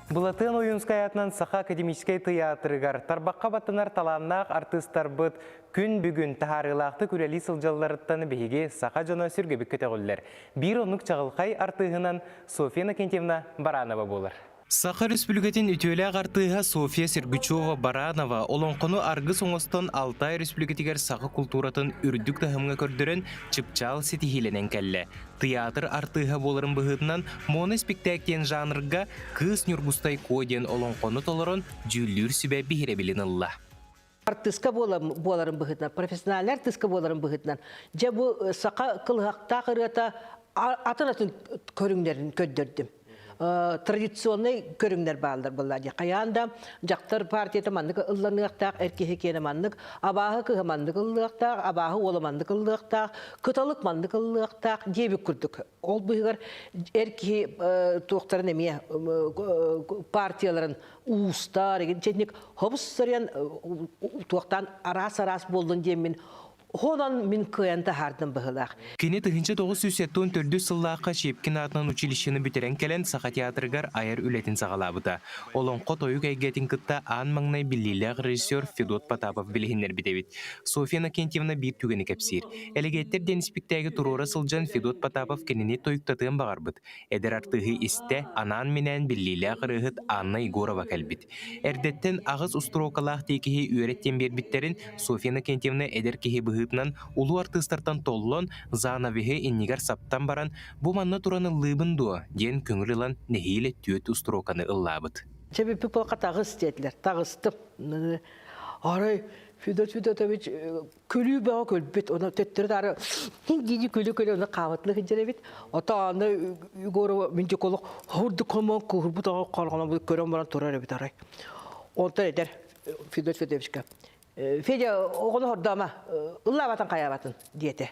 Былатыан Ойуунскай аатынан Саха академическай тыйаатырыгар тарбахха баттанар талааннаах артыыстарбыт күн бүгүн таһаарыылаахтык үлэлии сылдьалларыттан биһиги саха дьоно сүргэбик көтөҕүллэр. Биир оннук чаҕылхай артыыһынан София Иннокентьевна Баранова буолар. Саха Өрөспүлүкэтин үтүөлээх артыыһа София Сергучева-Баранова олоҥхону аргыс оҥостон Алтай Өрөспүлүкэтигэр саха култууратын үрдүк таһымҥа көрдөрөн, чыпчаал ситиһиилэнэн кэллэ. Тыйаатыр артыыһа буоларын быһыытынан моноспектакль диэн жанрга Кыыс Ньургустай Куо диэн олоҥхону толорон дьүүллүүр сүбэ биһирэбилин ылла. артыыска буоларын быһыытынан, профессиональнай артыыска буоларын быһыытынан, дьэ бу саха кылыһахтаах ырыата атын-атын көрүҥнэрин көрдөрдүм. традиционный көрүҥнэр бааллар былла дьэ хайаан да дьахтар партията маннык ылланыахтаах эр киһи киэнэ маннык абааһы кыһа маннык ыллыахтаах абааһы уола маннык ыллыахтаах кыталык маннык ыллыахтаах диэбит курдук ол быыһыгар эр киһи туохтарын эмиэ партияларын уустар итинник хобус сарыйан туохтаан араас араас буоллун диэммин Хонон мин кыайан таһаардым быһылаах. Кини тыһыынча тоҕус сүүс сэттэ уон төрдүс сыллаахха Щепкин аатынан училищены бүтэрэн кэлэн Саха театрыгар айар үлэтин саҕалаабыта. Олоҥхо тойук эйгэтин кытта аан маҥнай биллиилээх режиссер Федот Потапов билиһиннэрбит эбит. Софья Иннокентьевна биир түгэни кэпсиир. Элэгиэттэр диэн испиктээги туруора сылдьан Федот Потапов кинини тойуктатыан баҕарбыт. Эдэр артыыһы истэ, анаан-минээн биллиилээх ырыаһыт Анна Егорова кэлбит. Эрдэттэн аҕыс устуруокалаах тиэкиһи үөрэт диэн биэрбиттэрин Софья Иннокентьевна эдэр киһи быһыытынан улуу артыыстартан толлон, занавиһы иннигэр саптан баран, «Бу манна туран ыллыыбын дуо?» диэн көҥүл ылан нэһиилэ түөрт устуруоканы ыллаабыт. Чэ, бүппүт буолка таҕыс диэтилэр. Таҕыстым. Арай Федот Федотович Күлүү бөҕө күлбүт, оны төттөрү дии күлү-күлү оны хаабытына сылдьар эбит. Ото аны Егорова миндиколог хурдук хомон куурбут оҕо хорҕоно көрөн баран турар эбит арай. Онтон эдэр Федор Федоровичка Федя оҕону хордома ыллаабатын хайаабатын диэте.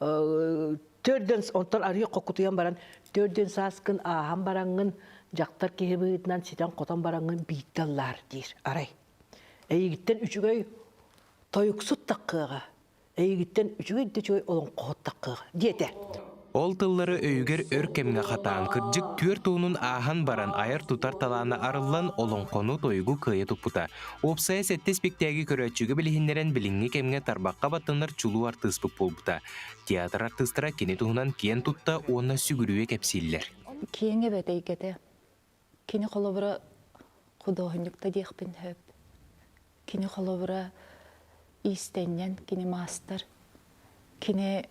Төрт дэн онтон арыйа хоккутуйан баран төрт дэн сааскын ааһан бараҥҥын дьахтар киһи быһыытынан ситэн-хотон бараҥҥын биирдэ аллаар диир арай. Эйигиттэн үчүгэй тойуксут таккыаҕа, эйигиттэн үчүгэй да үчүгэй олоҥхоһут таккыаҕа диэтэ. Ол тыллары өйүгэр өр кэмҥэ хатаан, кырдьык түөрт уонун ааһан баран, айар-тутар талаана арыллан, олоҥхону, тойугу кыайа туппута. Уопсайа сэттэ испиктээги көрөөччүгэ билиһиннэрэн, билиҥҥи кэмҥэ тарбахха баттанар чулуу артыыспыт буолбута. Театр артыыстара кини туһунан киэн тутта уонна сүгүрүйэ кэпсииллэр. Киэҥ эбэт эйгэтэ. Кини холобура худуоһунньукта диэхпин сөп. Кини холобура иистэнньэн, кини маастар. Кини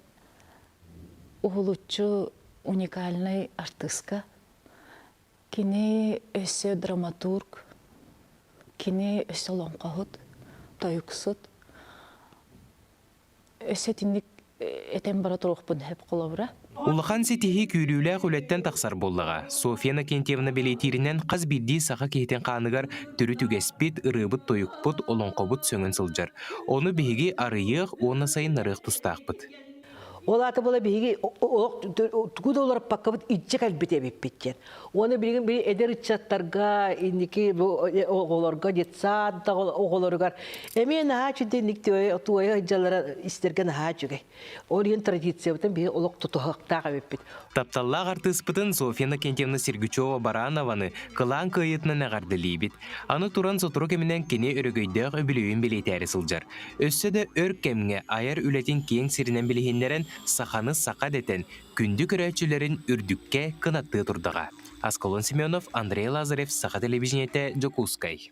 уһулуччу уникальнай артыыска. Кини өссө драматург, кини өссө олоҥхоһут, тойуксут. Өссө итинник этэн бара туруохпун сөп холобура. Улахан ситиһии күүрүүлээх үлэттэн тахсар буоллаҕа. Софья Накентьевна бэлиэтииринэн, хас биирдии саха киһитин хааныгар төрүт үгэспит, ырыабыт-тойукпут, олоҥхобут сөҥөн сылдьар. Ону биһиги арыйыах уонна сайыннарыах тустаахпыт. Ол аата була биһиги тугу да уларпаккабыт иччэ кэлбит эбиппит диэн. Уону билигин били эдэр ыччаттарга, инники оҕолорго, детсадта оҕолоругар эмиэ наһаа үчүгэй инник туойа дьаллара истэргэ наһаа үчүгэй. Ол иһин традициябытын биһи олох тутуһахтаах эбиппит. Тапталлаах артыыспытын София Иннокентьевна Сергучева-Баранованы кылаан кыайыытынан эҕэрдэлиибит. Аны туран сотору кэминэн кини өрөгөйдөөх үбүлүөйүн бэлиэтээри сылдьар. Өссө да өр кэмҥэ айар үлэтин киэҥ сиринэн билиһиннэрэн, саханы саха дэтэн, күндү көрөөччүлэрин үрдүккэ кынаттыы турдаҕа. Аскалон Семенов, Андрей Лазарев, Саха телевидениетэ, Дьокуускай.